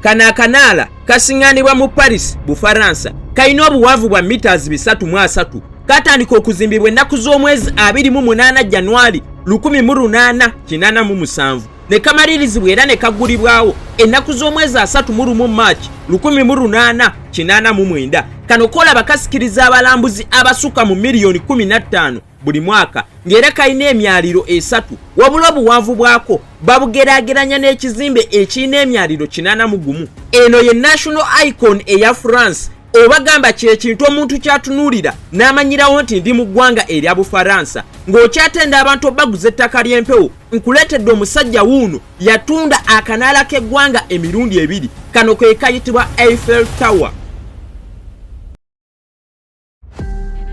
Kano akanaala kasiŋŋanibwa mu Paris, Bufaransa. Kalina obuwanvu bwa mitas bisatu mu asatu. Katandika okuzimbibwa ennaku z'omwezi abiri mu munaana Janwali lukumi mu lunaana kinaana mu musanvu ne kamalirizibwa era ne kaggulibwawo ennaku z'omwezi asatu mu lumu March lukumi mu lunaana kinaana mu mwenda. Kano kolaba kasikiriza abalambuzi abasukka mu miliyoni kumi na ttaano buli mwaka ng'era kalina emyaliro esatu wabula obuwanvu bwako babugeraageranya n'ekizimbe ekirina emyaliro kinana mu gumu eno ye national icon eya france obagamba kyekintu omuntu kyatunuulira n'amanyirawo nti ndi mu ggwanga erya bufaransa ng'okyatenda abantu obaguza ettaka ly'empewo nkuleetedde omusajja wuuno yatunda akanaala k'eggwanga emirundi ebiri kano ke kayitibwa eiffel tower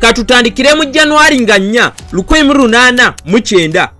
katutandikire mu januari nga nnya lukumi mu lunaana mu kyenda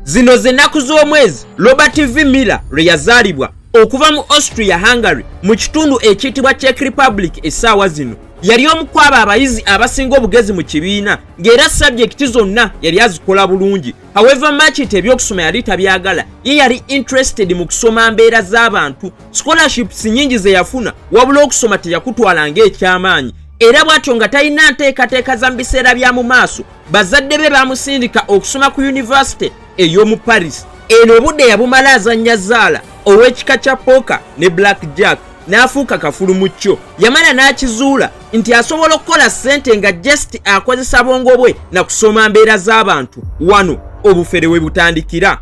zino z'ennaku z'omwezi robert v miller lwe yazaalibwa okuva mu austria hungary mu kitundu ekiyitibwa czech republic essaawa zino yali omu kwabo abayizi abasinga obugezi mu kibiina ng'era sabjekiti zonna yali azikola bulungi however machit ebyokusoma yali tabyagala ye yali interested mu kusoma mbeera z'abantu scholarships nyingi ze yafuna wabula okusoma teyakutwala ng'ekyamaanyi era bw'atyo nga talina nteekateeka za mu biseera bya mu maaso bazadde be baamusindika okusoma ku yunivasite ey'omu paris eno obudde yabumala azannya zaala ow'ekika kya poka ne black jack n'afuuka kafulu mu kyo yamala n'akizuula nti asobola okukola ssente nga just akozesa bwongo bwe na kusoma mbeera z'abantu wano obufere we butandikira